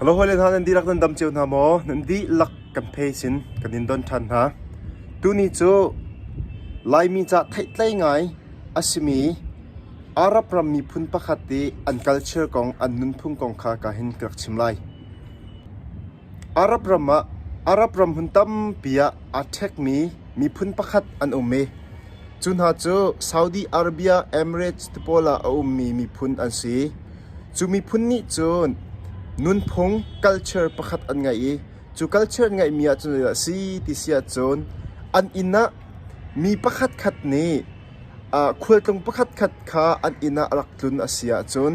Halo hawile hna nan dihlak nan dam cio hna maw? Nan dihlak kan phe sin kan in don ṭhan hna. Tuni cu Laimi ca theihtlei ngai a simi Arab ram miphun pakhat i an culture kong an nunphung kong kha ka hin ka rak chim lai. Arab ram hmun tampi ah aa ṭhekmi miphun pakhat an um i cu hna cu Saudi Arabia Emirates ti pawl ah a ummi miphun an si. Cu miphun nih cun nunphung culture pakhat an ngeih i cu culture ngeihmi ah cun zeidah a si ti si ahcun an inn ah mi pakhatkhat nih khualtlung pakhatkhat kha an inn ah rak tlun a si ahcun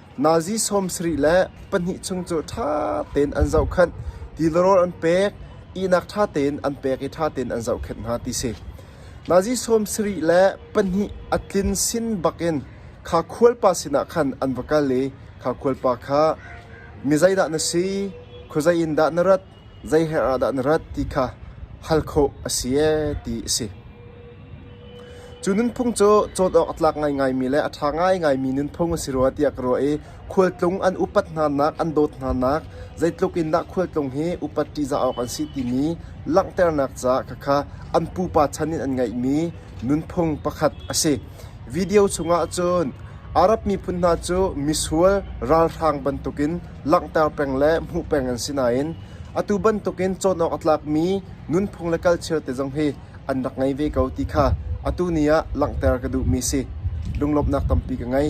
Nazi sawm sarih le pahnih chung cu ṭha tein an zohkhenh, tilarawl an pek, ihnak ṭha tein an pek i ṭha tein an zohkhenh hna ti si. Nazi sawm sarih le pahnih a tlin sin bakin kha khualpa sinah khan an va kal i kha khualpa kha, “Mi zeidah na si? Khuazei in dah na rat? Zeiher ah dah na rat ti kha hal khawh a si ee ti a si. Cu nunphung cu cawt awk a tlak ngaingaimi le a ṭha ngaingaimi nunphung a si rua tiah ka ruah i khualtlung an upat hnanak an dawt hnanak zeitluk in dah khualtlung hi upat ṭihzah awk an si timi langhternak caah khakha an pupa chan in an ngeihmi nunphung pakhat a si. Video chungah cun Arab miphun hna cu misual, ralhrang bantukin langhter peng le hmuh peng an si nain atu bantukin cawn awk a tlakmi nunphung le culture te zong hi an rak ngei ve ko ti kha atu ni ah langhter ka duhmi si. Lunglawmhnak tampi ka ngei.